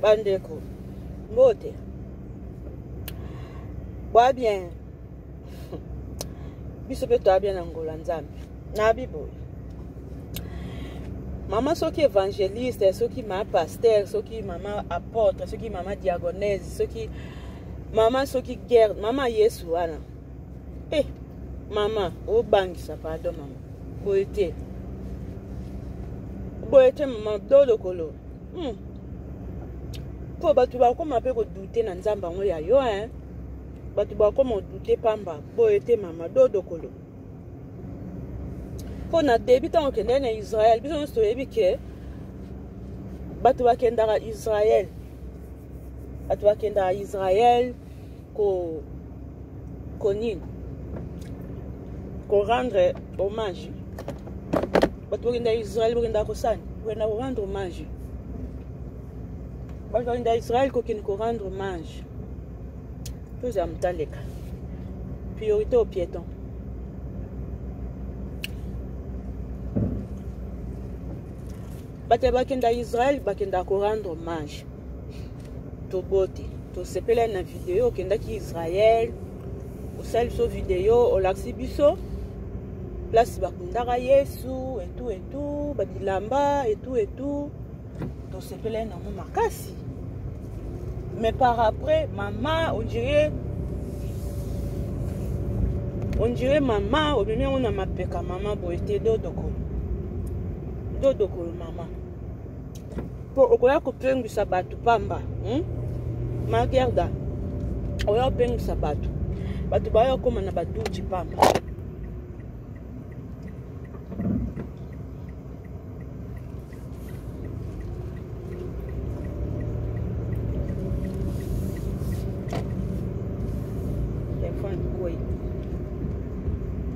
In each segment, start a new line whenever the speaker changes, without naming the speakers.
bandeko mbote bwa bien biso mpe toya bien na ngola nzambe na biboye mama soki évangéliste soki mama pasteur soki mama apôtre soki mama diagonese soki mama soki guerre mama yesu wana e eh, mama obangisa pardon mama boye te boye te mama dodokolo hmm. mpo bato bakoma mpe kodute na nzambe yango ya yo hein? bato bakoma odute pamba boye te mama dodokolo mpo na debi ntango okendaki na israel biso nyonso toyebi ke bato bakendaka israel bato bakendaka israel ko ko nini ko rendre hommage bato bakenda israel bakenda kosani bakenda ko rendre hommage bato bakenda israel kokende ko rendre hommage tozala motandeka priorité au piéton bato bakenda israel bakenda ko rendre hommage tobote tosepela na video okendaki israel osali biso video olakisi biso place bakundaka yesu etu etu babilamba etu etu tosepelai nango makasi mais par après mama ondire ondire mama omemi yango na mapeka mama boye te dodokolo dodokolo mama po okoya kopengwisa bato pamba hmm? magerda oya kopengwisa bato bato baya kokoma na baduti pamba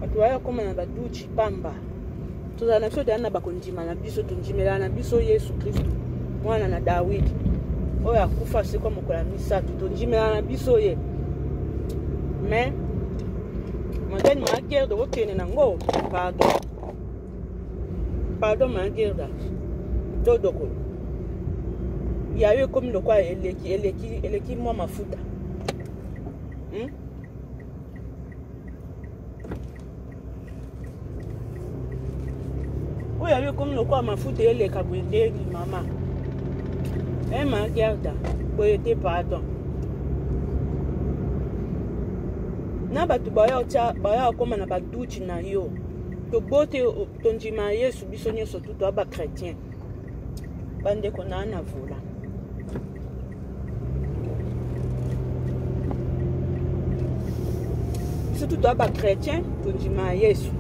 bato baya kokoma na baduti pamba tozala na biso teyana na bakondima na biso tondimelana na biso yesu kristu mwana na dawidi oyo akufa asekwa mokolo ya misato tondimelana na biso ye mais matani magerda okokende nango pardon pardon magerda todoko ya yo ekomi lokola eleki eleki eleki mwa mafuta hmm? oyo yayo ekomi lokola mafuta eleka boye ndeni mama ema eh, gerda boye te pardon na bato baya kokoma na baduti na yo tobote tondima yesu biso nyonso tutu ya bachrétien bandeko naa na vola biso tu toya bachrétien tondima ya yesu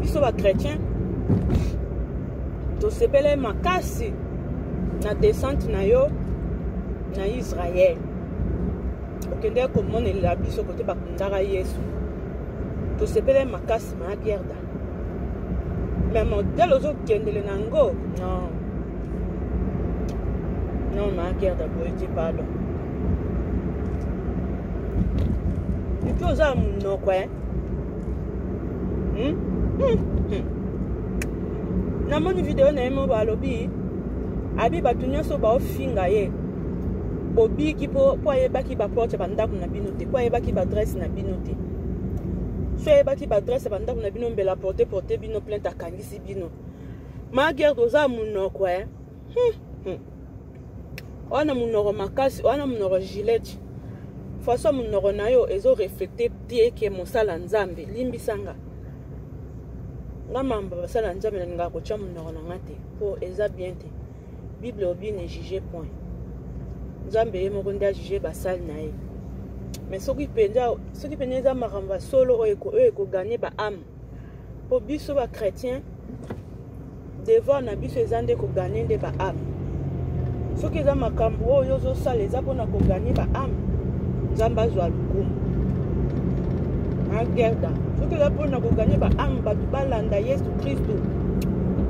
biso bachrétien tosepele makasi na descente na yo na israele okendeki komonelela biso kote bakundaka yesu tosepele makasi maa pierda mais modèle ozokendele na yango non non maakerde boyete pardon epi oza ya monoko e namoni video na ye moko alobi abi bato nyonso baofinga ye bobiki mpo ayebaki baporte ya bandako na bino te mpo ayebaki baadresse na bino te so ayebaki baadresse ya bandako na bino mbela porte porte bino plainte akangisi bino magerde oza monoko e hmm, hmm. wana monoko makasi wana monoko gilete façon monoko na yo ezo reflete te ke mosala nzambe limbisa nga nga mambo basala nzambe nalingaka kotya monoko na nga te mpo eza bien te bible obi ne juge point nzambe ye moko nde ajuge basali na ye mais soki mpenza soki mpenza eza makambo ya solo oyo ekogane baame mpo biso bachrétien devoir na biso eza nde kogane nde baame soki eza makambo oyo ozosala eza mpona kogane baame nzambe azwa lokumu na gerda soki eza mpona kogane baame bato balanda yesu kristu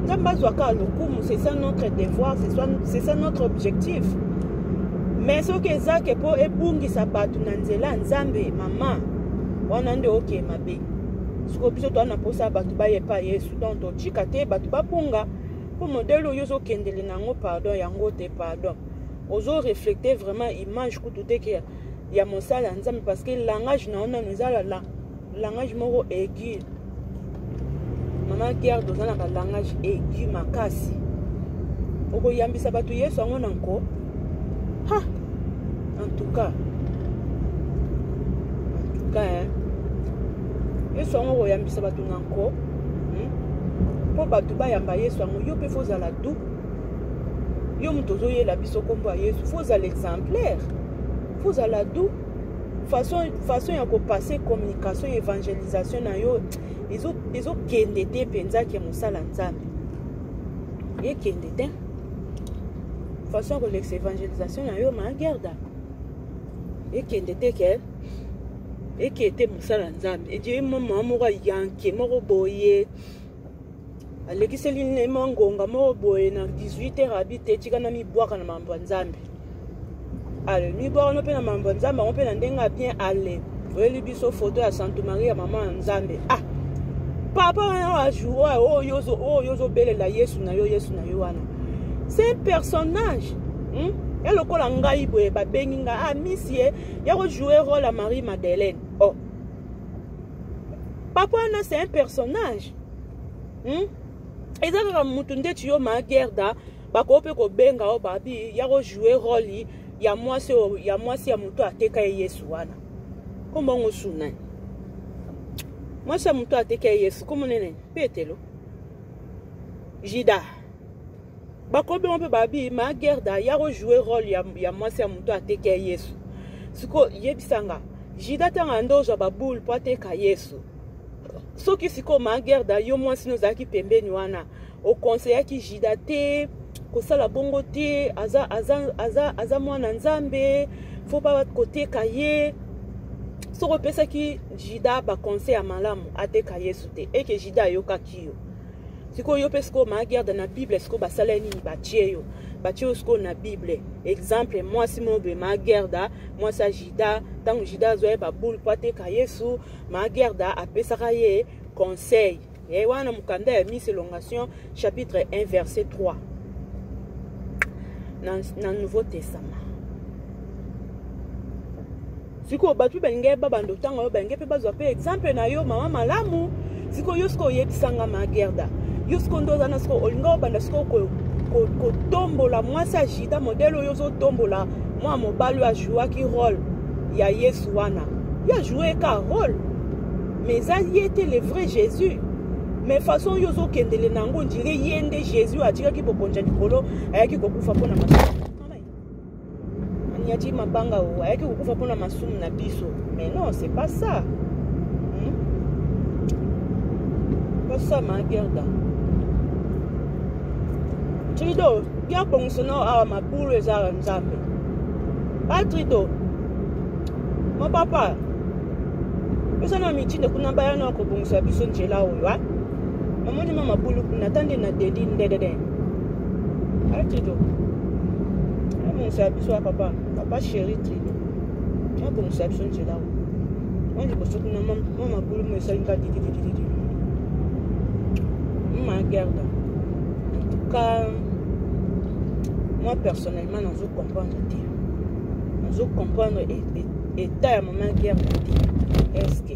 nzambe azwa kaka lokumu c'est ça notre devoir c'est ça notre objectif mais soki eza ke mpo ebungisa bato na nzela ya nzambe mama wana nde okee mabe sikoyo biso toa na mposa ya bato baye epai yesu donc totika te bato babunga mpo modele oyo ozokendele na yango pardon yango te pardon ozo reflecte vraiment image kutu te ke ya mosala ya nzambe parce que langage na yo nano ezalala langage moko aigu mama guerre toza na balangage aigu makasi okoyambisa bato yesu yango na nko ha en tout cas en tout cas hein? yesu yango okoyambisa bato na nko hmm? mpo bato bayamba yesu yango yo mpe fozala du yo moto ozoyela biso nkombo ya yesu fozala exemplaire fozala du façon, façon ya kopase communication ya évangélisation na yo ezokende te mpenza ke mosala nzambe ekende te façon ya kolekisa évangélisation na yo magerda ekende te ke eke te mosala nzambe edie mama moko yanke moko boye alekiseli ne mwa ngonga moko boye na 18 heure abi te tika na mibwaka na mambo ya nzambe ale mibwaka no mpe na mambo ya nzambe yango mpe na ndenge ya bien ale oyeli biso foto ya santo maria mama ya nzambe ah papa wana wa jour oyo oyo ozobelela yesu na yo yesu na yo wana c'est un personnage hmm? ya lokola ngai boye babengi ngai ah misie ya kojoue role ya marie madeleine oh papa wana c'est un personnage hmm? eza kaka mutu ndeti yo ma gerda bakoki mpe kobenga yo babi ya kojoue role ya mwasi oyo ya mwasi ya moto ateka ye yesu wana kombo yango sunani mwasi ya moto ateka ye yesu kombo nene petelo jida bakobima mpe babi ma gerda ya kojoue role ya, ya mwasi ya moto ateki ya yesu siko yebisa nga jida ntanga nde ozwa baboule mpo ateka yesu soki sikoyo ma gerda yo mwasi no ozalaki pembeni wana okonseyaki jida te kosala bongo te aza, aza, aza, aza mwana nzambe fo pa koteka ye soki opesaki jida baconseil ya malamu ateka yesu te eke jida ayokaki yo sikoyo yo mpe sikoyo maa garde na bible sikoyo basala ye nini batie yo batie yo sikoyo na bible exemple mwasi moko boye maa gerda mwasi ya juda ntango juda azwa ye baboule mpo ateka yesu maa gerda apesaka ye conseil ye eh, wana mokanda ya miss elongation chapitre 1 verset 3 na, na nouveau testament sikoyo bato mpe balingi yeba bando ntango oyo balingi mpe bazwa mpe exemple na yo mama malamu sikoyo yo sikoyo oyebisanga ma gerda yo sikoyo nde oza na sikoyo olingi obanda sikoyo kotombola mwasi ya jida modele oyo ozotombola mwana mobali oyo ajouaki role ya yesu wana yo ajoue ka role mais eza ye te le vrai jésus mais façon oyo ozokendele na yango ondire ye nde jésus atikaki bokonja likolo ayaki kokufa mpo na maso Nyati mabanga o ayaki kokufa mpona masumu na biso mais non c'est pas ça hmm? kosama gerda trido ya bongiso nao awa mabulu ezaka nzambe ba trido mo papa biso na mitindo kuna baya na kobongisa biso njela oyo a mamoni ma mabulu kuna tande na dedi ndedede atido amonisa biso ya papa papa chéri trido akomisa biso nzela o mwa liboso kuna mwa mabulu mo esali nga dididididi ma gerda en tout cas moi personnellement nazo comprendre te nazo comprendre état ya mama gerda te eske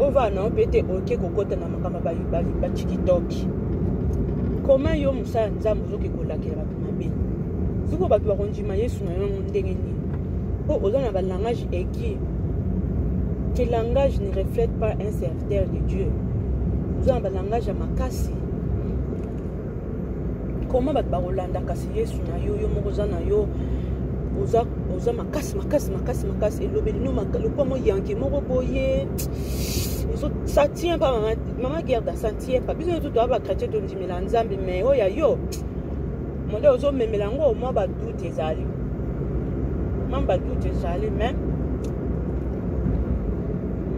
ovana mpe te oke kokota na makambo bacikitoki koma yo mosala ya nzambe ozoki kolakela bato mabe sikoyo bato bakondima yesu na yango ndenge nini mpo oza na balangage eki te langage ne reflète pas un serviteur de dieu oza na balangage ya makasi koma bato bakolanda kasi yesu na yo yo moko oza na yo oza, oza makasi makasi makasi makasi elobeli no lokwa mo yanke moko boye ça tient pas mama, mama gerda ça tient pas biso nyonso toya bachrétien tondimela nzambe mais oyo ya yo monde ozomemela yango mwa badoute ezali mwa badoute ezali mais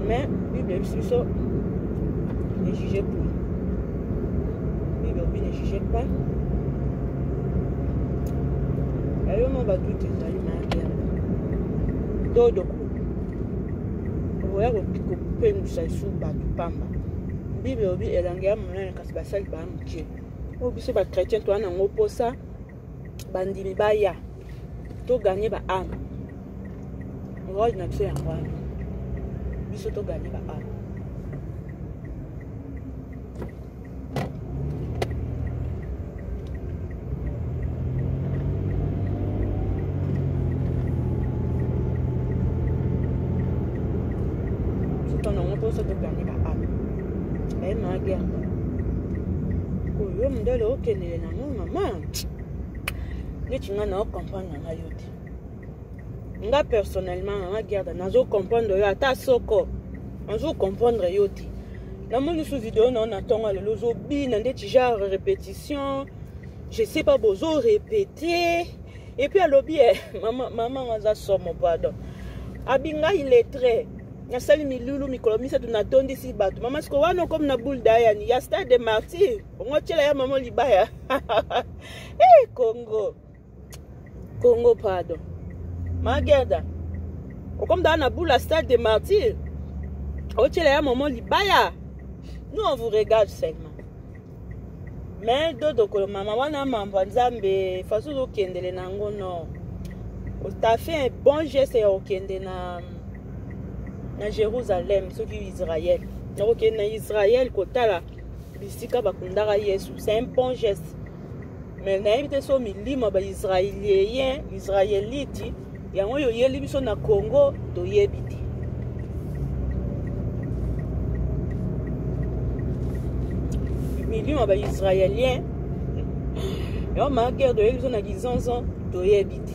mais bible ebisi biso ejuge pour Oui, mais oui, ne jugez pas. Ayo no ba tout ezali maria. Dodo ko. Oya ko ko pengusa isu bato pamba. Bible obi elanga ya monene kasi basali ba moke. Oyo biso ba chrétien toa nango mposa bandimi baya toganye ba ame role na biso yango wana biso toganye ba ame biso toganye ba ame baye maage yango oyo mondele okende Eh, na ngai mama neti ngai nao comprendre na ngai yo te nga personnellement na nga gerda nazo comprendre yo ata soko nazo comprendre yo te namoni su video nao na ntongo lelo ozobina ndeti genre répétition je sais pas bozo répété et puis alobi eh, mama mama nga aza somo pardon abingai lettre nasali milulu mikolo misato natondisi bato mama siko wana okomi na boule dayani ya stade de martyr bongo otyela ya mama libaya hey, eh, congo congo pardon magerda okomdaa na bula stade de martyr otyela ya mama libaya nous on vous regarde seulement me dodokolo mama wana mambo ya nzambe fasi ozokendele na yango no ta fait un bon geste ya kokende na na jérusalem soki israel nakokende na israel kotala bisika bakundaka yesu c'est un bon geste mais nayebi te so milimo baisraelien israelite yango oyo oyeli biso na congo toyebi te milimo baisraelien yango maakere toyebi biso na kizonzon toyebi te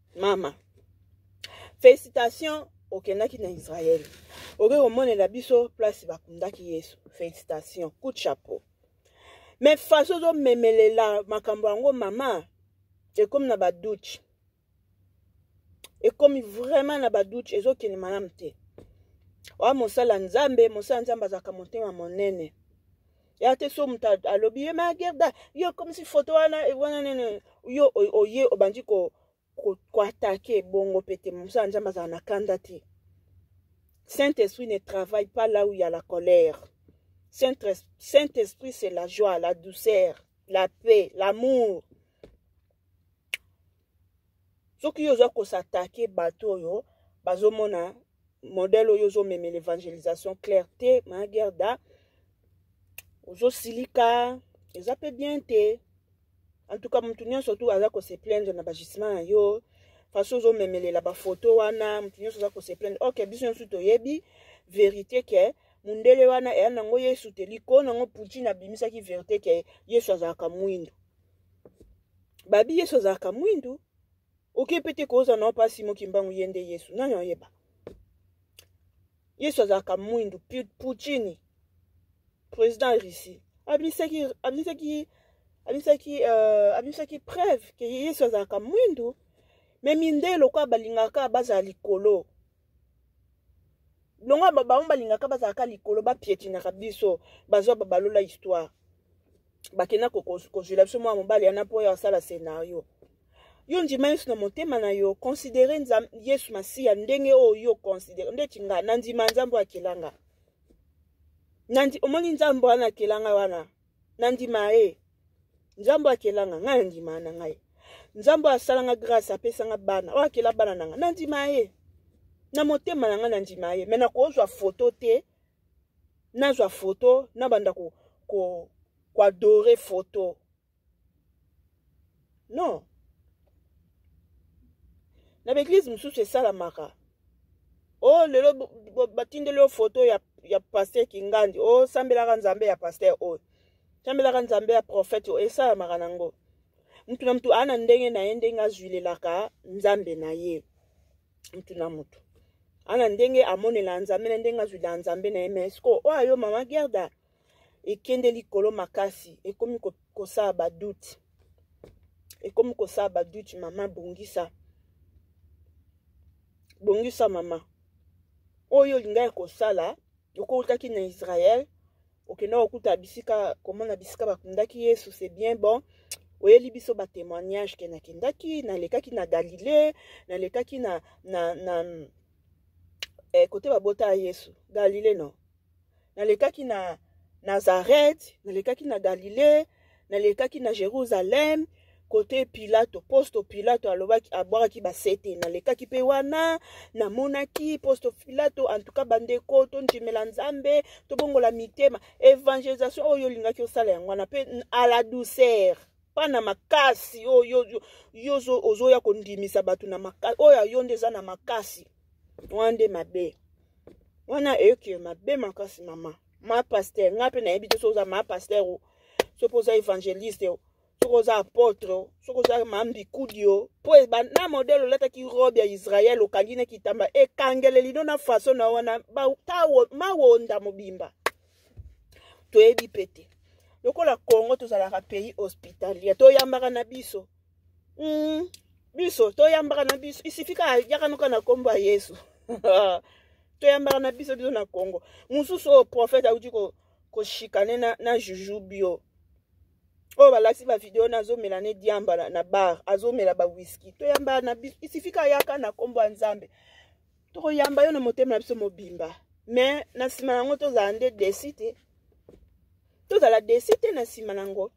mama félicitation okendaki na israel oke komonela biso place bakundaki yesu félicitation coup de chapeau mais façon ozomemelela makambo yango mama ekomi na badoute ekomi vraiment na badoute ezokende malamu te oya mosala nzambe mosala nzambe azalaka motema monene ya te so moto alobi ye ma gerda yo komisi foto wana eh, wana nene yo oye obandi koatake bongo mpe te mosala nzambe azala na kanda te saint esprit ne travaille pas là où ya la colère saint esprit c'est la joie la douceur la paix l'amour soki yo oza kosatake bato oyo bazomona modèle oyo ozomemela evangelisation claire te ma gerda ozosilika eza mpe bien te en tout cas motu nyonso tu aza kose plaindre na bagissement na yo façon ozomemelela bafoto wana motu nyonso aza kose plaindre ok biso nyonso toyebi verité ke mundele wana eya nango yesu te likolo nango poutine abimisaki verité ke yesu azalaka mwindu babi yesu azalaka mwindu oke pete koza na pasi mo kimbangu ye nde yesu nani oyeba yesu azalaka mwindu puccini président ya russie abimisaki abimisaki abimisaki euh, abimisaki preuve ke yesu azalaka mwindu me mindele lokola balingaka bazala likolo longo bango balingaka bazalaka likolo bapietinaka biso bazwa babalola histoire bakenda kozwela biso mwa mobali yana mpo oyo asala scenario yo ndima yesu na motema na yo considere yesu masiya ndenge oyo yo considere ndeti nga nandima nzambe akela nga omoni nzambe wana akela nga wana nandima ye nzambe akela nga ngai nandima na ngai nzambe asala nga grâce apesa nga bana oyo akela bana na nga nandima ye na motema na ngai nandima ye me nakozwa foto te nazwa foto nabanda koadore ko, ko foto non na baeglize mosusu esalamaka o oh, lelo batindeli yo foto ya, ya paster kingandi osambelaka oh, nzambe ya paster oyo sambelaka nzambe ya profete oyo esalamaka nango mutu na mutu aa na ndenge na ye ndenge azwilelaka nzambe na ye mutu na mutu aa na ndenge amonelaka nzambe na ndenge azwilelaka nzambe na ye mais sikoyo oyo ayo mama gerda ekende likolo makasi ekomi kosala badoute ekomi kosala badoute mama bongisa bongisa mama oyo olingaki kosala okowutaki na israel okenda kokuta bisika komona bisika bakundaki yesu se bien bon oyeli biso batémoignage ke nakendaki nalekaki na galilée nalekaki na, na, na eh, kote babota ya yesu galilée non nalekaki na nazareth nalekaki na galilée nalekaki na jérusalem kote pilato posto pilato alobaki abwakaki basete nalekaki mpe wana namonaki posto pilato antuka bandeko tondimela nzambe tobongola mitema evangelisation oyo olingaki osala yango wana mpe à la douceur pa na makasi oyo yo ozoya kondimisa bato na makasi oyo ayo nde eza na makasi wana nde mabe wana eyoki mabe makasi mama ma pasteur ngai mpe nayebi te soki oza ma pasteur o soki oza évangéliste o soki oza apôtre o soki oza ma mbikudi o mpo na modele olataki robe ya israel okangi na kitamba ekangele lino na faso na wana mawonda mobimba toyebi mpe te lokola congo tozalaka pays hospitalier toyambaka na biso mm, biso toyambaka na biso isifika yaka noka na kombo ya yesu toyambaka na biso biso na congo mosusu oyo prophète auti koshikane na, na juju bio oyo balakisi bavideo na azomela ne diamba na, na bar azomela bawiski toyambaka na biso isifika yaka na kombo ya nzambe tokoyamba yo na motema na biso mobimba me na nsima na yango tozala nde desi te tozala desi te na nsima na yango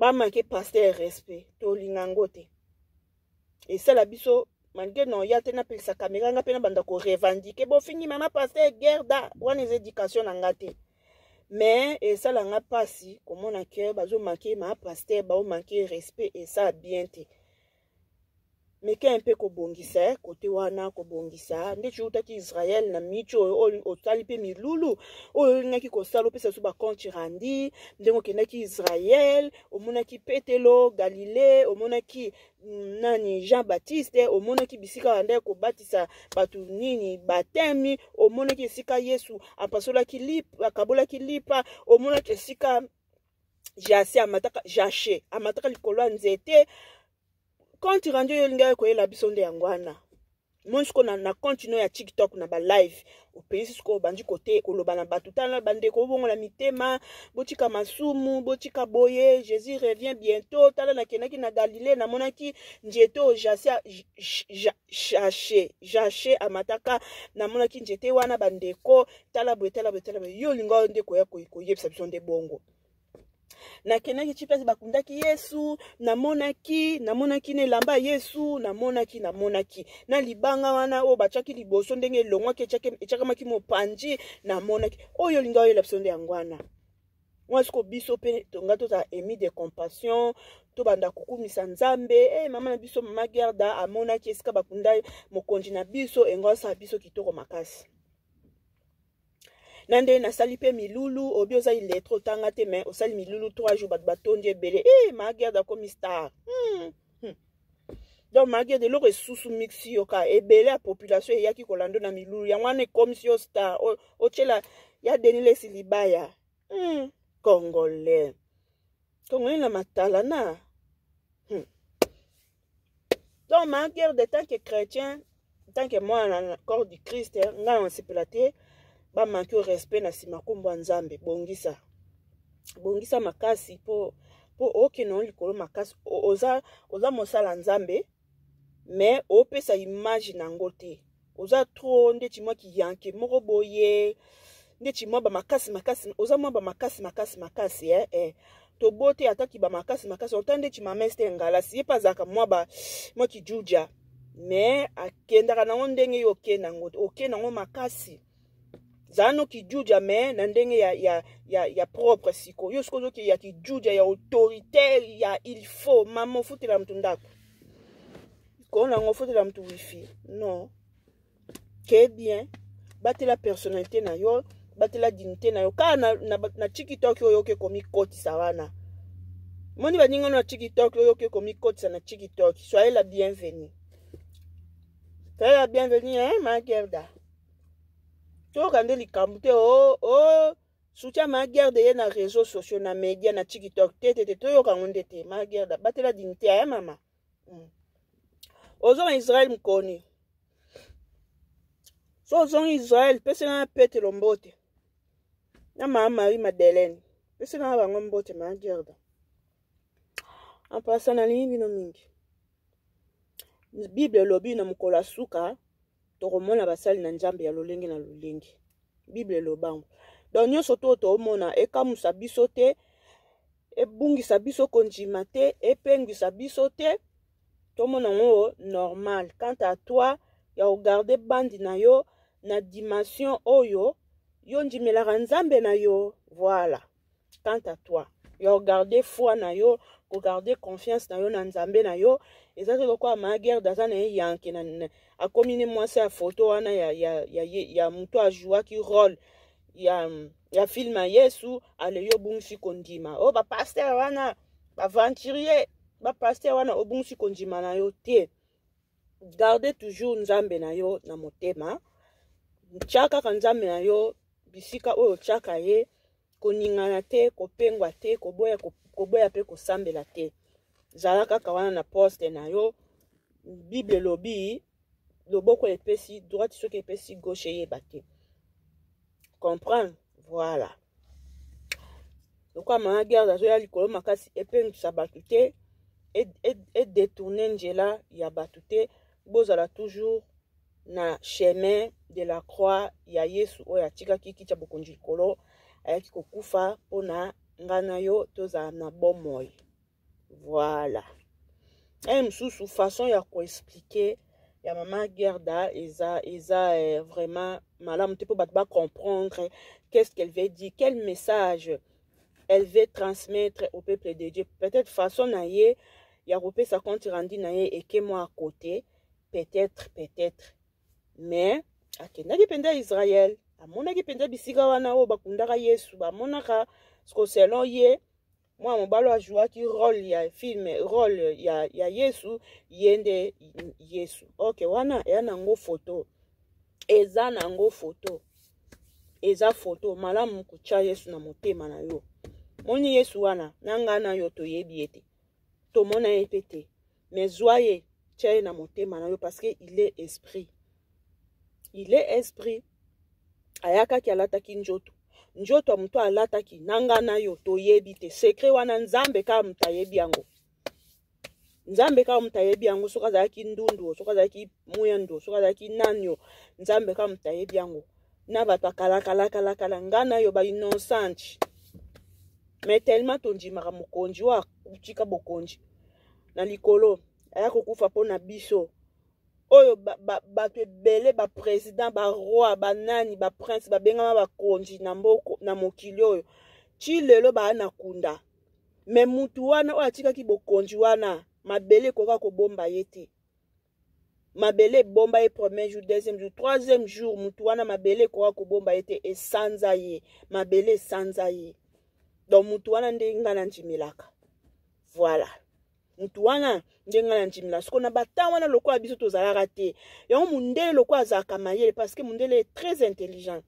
bamake pasteur respect tolinga yango te esala biso malgré non ya te napelisa kamera nga mpe nabanda korevendike bofingi mama pasteur gerda wana eza éducation na nga te mais esala nga mpasi komona ke bazomake mama pasteur baomake respect esala bien te meka mpe kobongisa eh, kote wana kobongisa nde tiutaki israel na mici oyo oyo otali mpe milulu oyo olingaki kosala opesa biso bacompte randi ndenge okendaki israel omonaki petelo galile omonaki mm, nani jean baptiste omonaki bisika banda kobatisa bato nini batemi omonaki esika yesu apasolaki lipa akabolaki lipa omonaki esika jase amataka jashe amataka likolo ya nzete compte rendu oyo olingaki koyela biso nde yango wana moni sikoyo na, na compte no ya tiktok na balive opesi sikoyo obandi kote koloba na bato tala bandeko bobongola mitema botika masumu botika boye jésus revient bientôt tala nakendaki na galilée namonaki nzete oyo jase ja, jache jache amataka namonaki njete wana bandeko tala boye tala boye tala boye yo olinga nde koya koyebisa biso nde bongo nakendaki ti place bakundaki yesu namonaki namonaki na elamba ya yesu namonaki namonaki na libanga wana oyo batiaki liboso ndenge elongwaki etiakamaki mopanzi namonaki oyo olinga oyela biso nde yango wana mwa siko biso mpe tonga tozala emi de compassion tobanda kokumisa nzambe e hey, mama na biso mama gerda amonaki esika bakunda mokonzi na biso yango asala biso kitoko makasi na nde nasali mpe milulu obi oza iletre otanga te mai osali milulu 3 jour bato batondi ebele e hey, ma gerda akomi star hmm. donc makede eloko esusu mixi yo ka ebele ya population eyaki kolando na milulu yango wana ekomisi yo star otyela ya denilesi libaya hmm. congolais congolais na matalana hmm. donc maguerre de tant que chrétien tant que mwana na corps du christ ngai nasepela te bamanki o respect na nsima nkombo ya nzambe bongisa bongisa makasi mpo mpo okende yango likolo makasi oza oza mosala nzambe me opesa image na yango te oza tro ndeti mwa kiyanke moko boye ndeti mwa bamakasi makasi oza mwa bamakasi makasi makasi eh, eh. tobote ata kiba makasi makasi autant nde chimamese te ngalasi ye mpe azalaka mwa ba mwa kijuja mais akendaka nango ndenge yo oke nango oke nango makasi zala no kijuja mais na ndenge ya, ya, ya, ya propre siko yo soki ozoki ya kijuja ya autoritaire ya il faut mama ofutela moto ndako koo nango ofutela moto wifi non ke bien batela personnalité na yo batela dignité na yo kaka na, na, na tikitoki oyo oke komikotisa wana moni baninga na tikitoki oyo oke komikotisa na tikitoki soyez la bienvenue soyez la bienvenue hein, ma gerda toyoka nde likambo te o oh, o oh. soutien ma gerda ye na réseau sociaux na média na tikitoki te te te toyoka yango nde te ma gerda batela dignité ya eh, mama mm. ozo na israel mkoni so ozongi israel pesi na petelo mbote na mama marie madeleine pesi na bango mbote ma gerda ampasa nalingi bino mingi bible elobi na mokolo ya suka tokomona basali na nzambe ya lolenge na lolenge bible elobango donc nyonso to toomona ekamusa biso te ebungisa biso kondima te epengwisa biso te tomona yango normal quant à toi ya kogarde bandi na yo na dimension oyo yo ndimelaka nzambe na yo voilà quant à toi yo garde foi na yo kogarde confiance na yo na nzambe na yo eza te lokola maagerde aza na ye yanke akomi ne mwasi ya foto wana ya, ya, ya, ya moto ajouaki role ya, ya filme ya yesu ale yo obungisi kondima o oh, bapaster wana baventurier bapaster wana obungisi kondima na yo te garde toujours nzambe na yo na motema tya kaka nzambe na yo bisika oyo otyaka ye koningana te kopengwa te koboya, koboya mpe kosambela te zala kaka wana na poste na yo bible elobi loboko epesi droite soki epesi gauche eyeba te comprendre voilà lokola mama guerre azoya likolo makasi epengisa bato te edetourne njela ya bato te bozala toujours na chemin de la croix ya yesu oyo atikaki kiti ya bokonzi likolo ayaki kokufa mpo na ngai na yo tozala na bomoi Voilà. Un mosusu façon ya ko expliquer ya mama Gerda eza eza eh, vraiment malamu te mpo bato ba comprendre qu'est-ce qu'elle veut dire, quel message elle veut transmettre au peuple de Dieu. Peut-être façon na ye ya kopesa compte rendu na ye eke mwa à côté, peut-être peut-être. Mais akendaki mpenza Israël, amonaki mpenza bisika wana oyo bakundaka Yesu, bamonaka siko selon ye mwana mobali oyo ajouaki role ya film role ya, ya yesu ye nde yesu ok wana eya na yango foto eza na yango foto eza foto malamu kotya yesu na motema na yo moni yesu wana na ngai na yo toyebi ye te tomona ye mpe te mais zwa ye tya ye na motema na yo parce que il est esprit il est esprit ayakaki alataki njoto njoto ya moto alataki na ngai na yo toyebi te sekre wana nzambe kaka moto ayebi yango nzambe kaka moto ayebi yango soki azalaki ndundu soki azalaki mwendo soki azalaki nani o nzambe kaka moto ayebi yango na bato akalakalakalakala ngai na yo bainnoncente mais tellement tondimaka mokonzi oyo atika bokonzi na likolo aya kokufa mpo na biso oyo bato ebele baprésident baroi banani baprince babengama bakonzi na mboko na mokili oyo ti lelo baya na kunda me mutu wana oyo atikaki bokonzi wana mabele ekoka kobomba ye te mabele ebomba ye premier jour deuxième jour troisième jour motu wana mabele ekoka kobomba ye te esanza ye mabele esanza ye donc motu wana nde ngai nandimelaka voilà motu wana nde ngai nandimelaka soko na batemp wana lokola biso tozalaka te yango mondele lokola azalaka mayele parce que mondele est très intelligent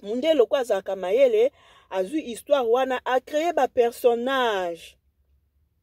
mondele lokola azalaka mayele azwi histoire wana acreye bapersonnage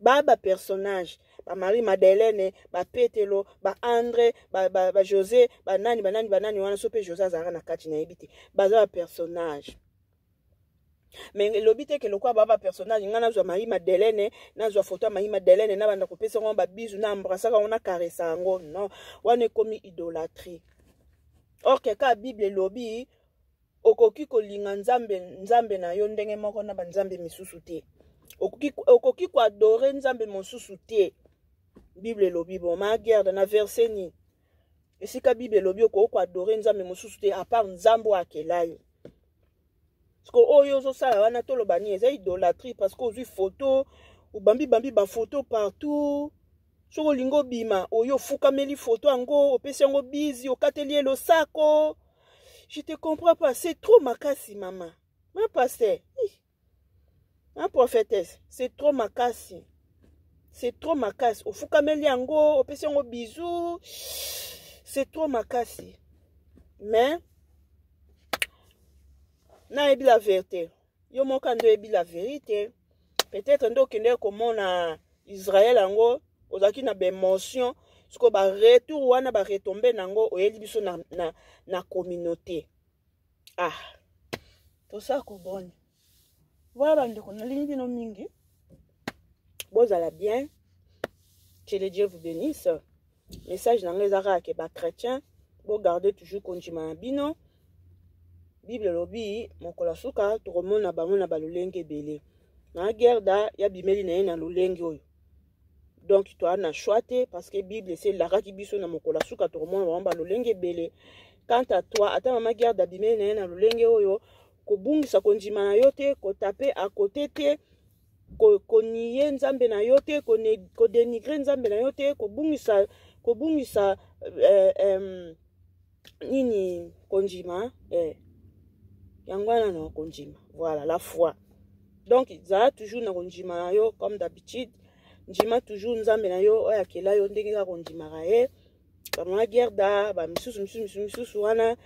ba ba personnage ba marie madeleine ba petelo ba andre ba, ba, ba josé banani banani banani wana so mpe josé azalaka na kati nayebi te baza ba personnage me elobi te ke lokola baa bapersonnage ngai nazwa mai madelene nazwa foto ya mai madelene nabanda kopesa yango babizu na embrasaka yango na karesa yango non wana ekomi idolatrie orke kaka bible elobi okoki kolinga nzambe nzambe na yo ndenge moko na banzambe misusu te okoki, okoki koadore nzambe mosusu te bible elobi bon ma guerre na verse nini esika bible elobi okoki koadore nzambe mosusu te apart nzambe oyo akela yo siko oyo ozosala wana toloba nini eza idolatrie parce que ozwi foto obambi bambi bafoto partout soki olingi obima oyo ofukameli foto yango opesi yango bizi okateli ye losako je te comprends pas c'est trop makasi mama ma pasteur ma prophétesse c'est trop makasi c'est trop makasi ofukameli yango opesi yango bizu c'est trop makasi mais nayebi la verité yo moka nde oyebi la verite peut-être nde okendeki komona israel yango ozalaki na baémotion sikoyo baretour wana baretombe na yango oyeli biso na, na, na communauté ah tosa koboni voilà bandeko nalingi bino mingi bozala bien que le dieu vous bénisse message na ngai eza kaka ke bachrétien bogarde toujours kondima na bino bible elobi mokolo ya suka tokomona bango na balolenge ebele na gerda ya bimeli na ye na lolenge oyo donc toa na choix te parce que bible esi elakaki biso na mokolo ya suka tokomona bango balolenge ebele quant à toi ata mama gerda bimeli na ye na lolenge oyo kobungisa kondima na yo te kotape akote te koniye ko nzambe na yo te kodenigre ko nzambe na yo te kobungisa kobungisa eh, eh, nini kondima eh. yango wana na kondima voilà la foi donc zala toujours na kondima na yo comme d'habitude ndima toujours nzambe na yo oyo akela yo ndenge kaka ondimaka ye bamama gerda bamisusu misusu misusu misusu wana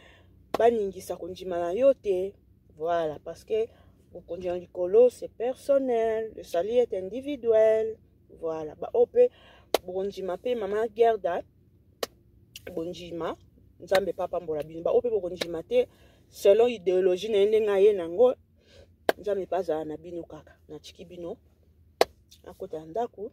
baningisa kondima na yo te voilà parce que bokonzi ya likolo c'est personnel le salut est individuel voilà baoyo mpe bokondima mpe mama gerda bondima nzambe mpe apambola bino baoyo mpe bokondima te selon ideologie na ye ndenge aye nango nzambe mpe azala na bino kaka natiki bino akota ya ndako